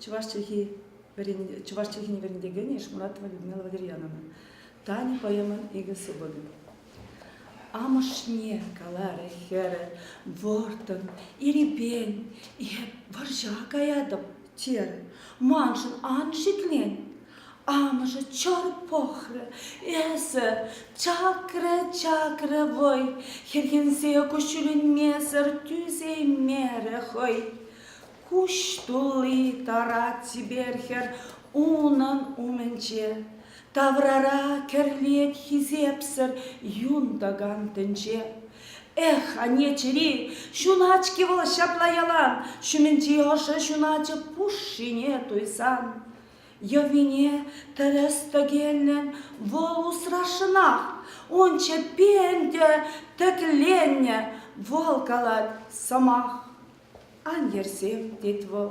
чӑваш чӗлхи чӑваш чӗлхине вӗрентекенӗ Ишмуратова Людмила Валерьяновна. Тани поэмӑн икӗ супӑнӗ. Амӑшне каларӗ хӗрӗ, вӑрттӑн, ирипен, эп вӑрҫа каятӑп, терӗ. Маншӑн ан шиклен. Амӑшӗ чӑр пӑхрӗ, эсӗ чакрӗ, чакрӗ вӑй, хӗрхенсе куҫҫӳленмесӗр тӳсеймерӗ хӑй. Куҫ тулли тарать чипер хӗр унӑн умӗнче. Таврара кӗрлет хисепсӗр юн тӑкан тӗнче. Эх, анне чӗри, ҫунать-ҫке вӑл ҫапла ялан, ҫумӗнчи ӑшӑ ҫуначӗ пушшине туйсан. Йӑвине тӗрӗс тӗкеллӗн вӑл усрашшӑнах. Унчче пен те тӗкленнӗ, вӑл калать сӑмах. Ан йӗрсем, тет вӑл,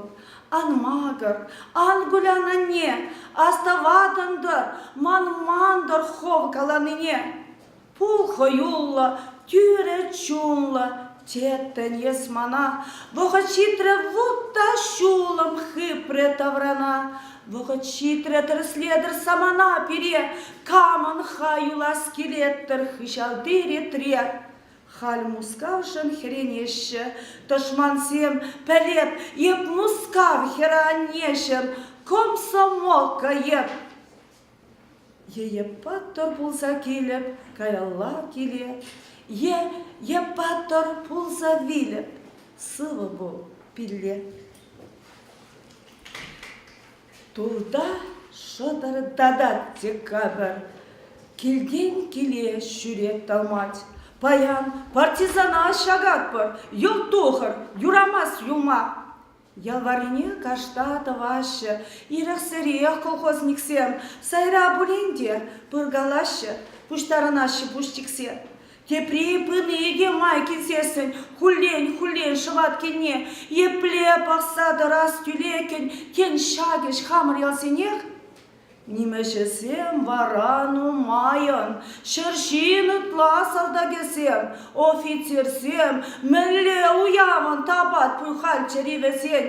ан макӑр, ан кулян, анне, астӑватӑн-тӑр ман мантӑр хӑв каланине. Пул хӑюллӑ, тӳрӗ чунлӑ, теттӗн эс мана, вӑхӑт ҫитрӗ вут та ҫулӑм хыпрӗ таврана. Вӑхӑт ҫитрӗ тӗрӗслетӗр самана пире, камӑн-ха юлас килет-тӗр хыҫалти ретре. Халь Мускавшӑн хӗренеҫҫӗ тӑшмансем, пӗлеп эп Мускав хӗрӗ-аннеҫӗм, комсомолка эп. Е паттӑр пулса килӗп каялла киле, е е паттӑр пулса вилӗп, сывӑ пул, пилле. Турта шӑтӑртатать те капӑр. Килтен киле ҫӳрет тӑлмать. Паян партизана ҫакатпӑр, йӑл тухӑр, юрамасть юма. Ял варрине кашта тӑваҫҫӗ. Ирӗксӗрех колхозниксем сайра пулин те пыркалаҫҫӗ, пуҫтарӑнаҫҫӗ пуҫ тиксе. Тепри пыни икӗ май килсессӗн хуллен-хуллен шӑватккенне епле пӑхса тӑрас тӳлекӗн тен ҫакӑ хамӑр ялсенех? Нимӗҫӗсем вара нумайӑн, ҫӗр ҫин ытла салтакӗсем, офицерсем мӗнле уявӑн тапат пуханччӑр-и вӗсен?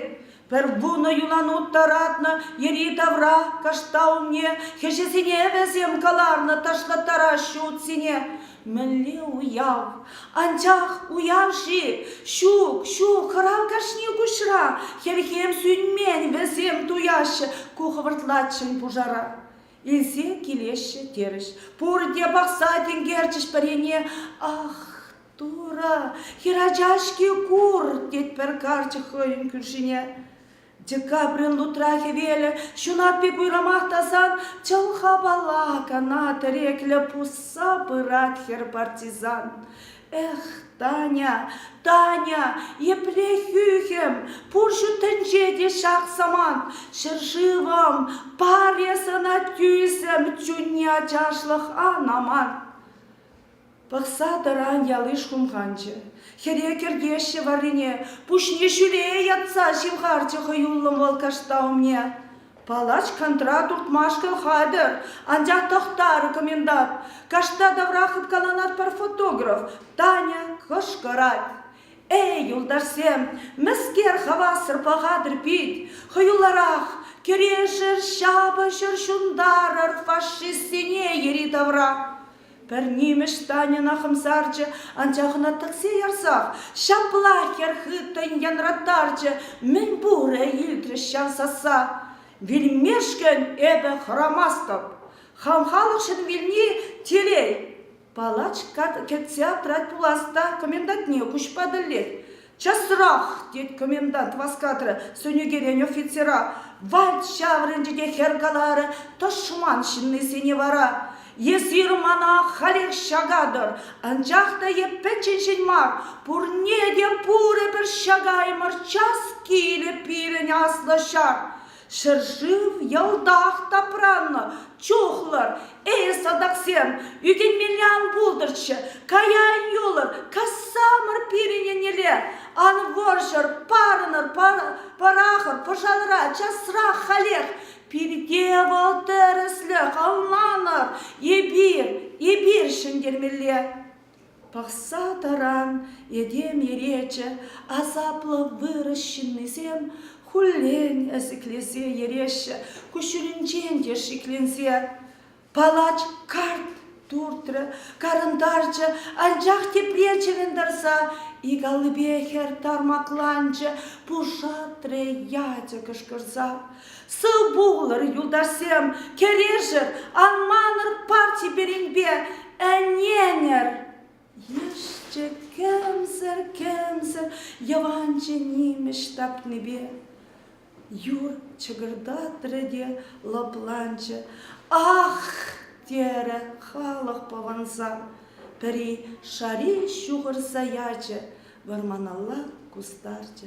Пӗр вунӑ юланут тӑратнӑ йӗри-тавра кашта умне, хӗҫӗсене вӗсем кӑларнӑ ташкӑттараҫҫӗ утсене. Мӗнле уяв! Анчах уяв-ши? Ҫук, ҫук, хӑрав кашни куҫра. Хӗрхем сӳнмен вӗсем туяҫҫӗ ку хӑвӑртлаччен пушара. Илсе килеҫҫӗ терӗҫ. Пурте пахса тинкерчӗҫ пӗрене. Ах, Турӑ, хӗрача-ҫке кур, тет пӗр карчӑк хӑйӗн кӳршине. Декабрьӑн лутра хӗвелӗ ҫунатти пуйрӑмах тасан чӑлхапала кана тӗреклӗ пусса пырать хӗр партизан. Эх, Таня, Таня, епле хӳхӗм, пурҫӑ тӗнче те ҫак самант. Ҫӗршывӑм, паре сана тӳсӗм чунне ачашлӑх ан амант. Пӑхса тӑран яли шумханчӗ. Хӗре кӗртеҫҫӗ варрине, пуҫне ҫӳле йӑтса ҫывхарчӗ хӑюллӑн вӑл кашта умне. Палач кантра туртмашкӑн хатӗр, анчах тӑхтар, комендант. Кашта тавра хыпкаланать пӗр фотограф. Таня кӑшкӑрать: «Эй, юлташсем, мӗскер хавассӑр пӑхатӑр пит? Хӑюлларах, кӗрешӗр, ҫапӑҫӑр, ҫунтарӑр фашистсене йӗри-тавра!» Пӗр нимӗҫ Таньӑна хӑмсарчӗ, анчах ӑна тӗксе ярсах ҫапла хӗр хыттӑн янраттарчӗ, мӗн пурӗ илтрӗҫ ҫав сасса. Вилмешкӗн эпӗ хӑрамастӑп. Хам халӑхшӑн вилни телей. Палач кӗтсе аптрать пулас та комендантне куҫпа тӗллет. Часрах, тет комендант васкатрӗ сӑнӳкерен офицера. Вальт ҫаврӑнчӗ те хӗр каларӗ, тӑшман ҫыннисене вара. Эсир мана халех ҫакатӑр, анчах та эп пӗчченҫӗн мар, пурне те пурӗпӗр ҫакаймӑр, час килӗ пирӗн аслӑ ҫар. Ҫӗршыв ялтах тапраннӑ чухлӑр. Эй, салтаксем, ӳкӗнмелле ан пултӑрччӗ. Каян юлӑр, кассамӑр пирӗн еннелле. Ан вӑрҫӑр, парӑнӑр, пӑрахӑр, пӑшалра, часрах халех. Пирте вӑл тӗрӗслӗх, ӑнланӑр. Эпир, эпир ҫӗнтермелле. Пӑхса тӑран этем иречӗ асаплӑ вырӑс ҫыннисем хуллен ӗсӗклесе йӗреҫҫӗ, куҫҫулӗнчен те шикленсе. Палач карт туртрӗ, карӑнтарчӗ, анчах тепре чӗрӗнтарса ик аллипе хӗр тармакланчӗ, пушатрӗ ячӗ кӑшкӑрса. Сывпуллӑр, юлташсем, кӗрешӗр, ан манӑр парти пирӗнпе, ӗненӗр! Йышчӗ кӗмсӗр-кӗмсӗр йӑванчӑ нимӗҫ тапнипе. Юр чӑкӑртатрӗ те лӑпланчӗ. Ах! терӗ халӑх пӑвӑнса. Пӗри шари ҫухӑрса ячӗ, вӑрманалла кустарчӗ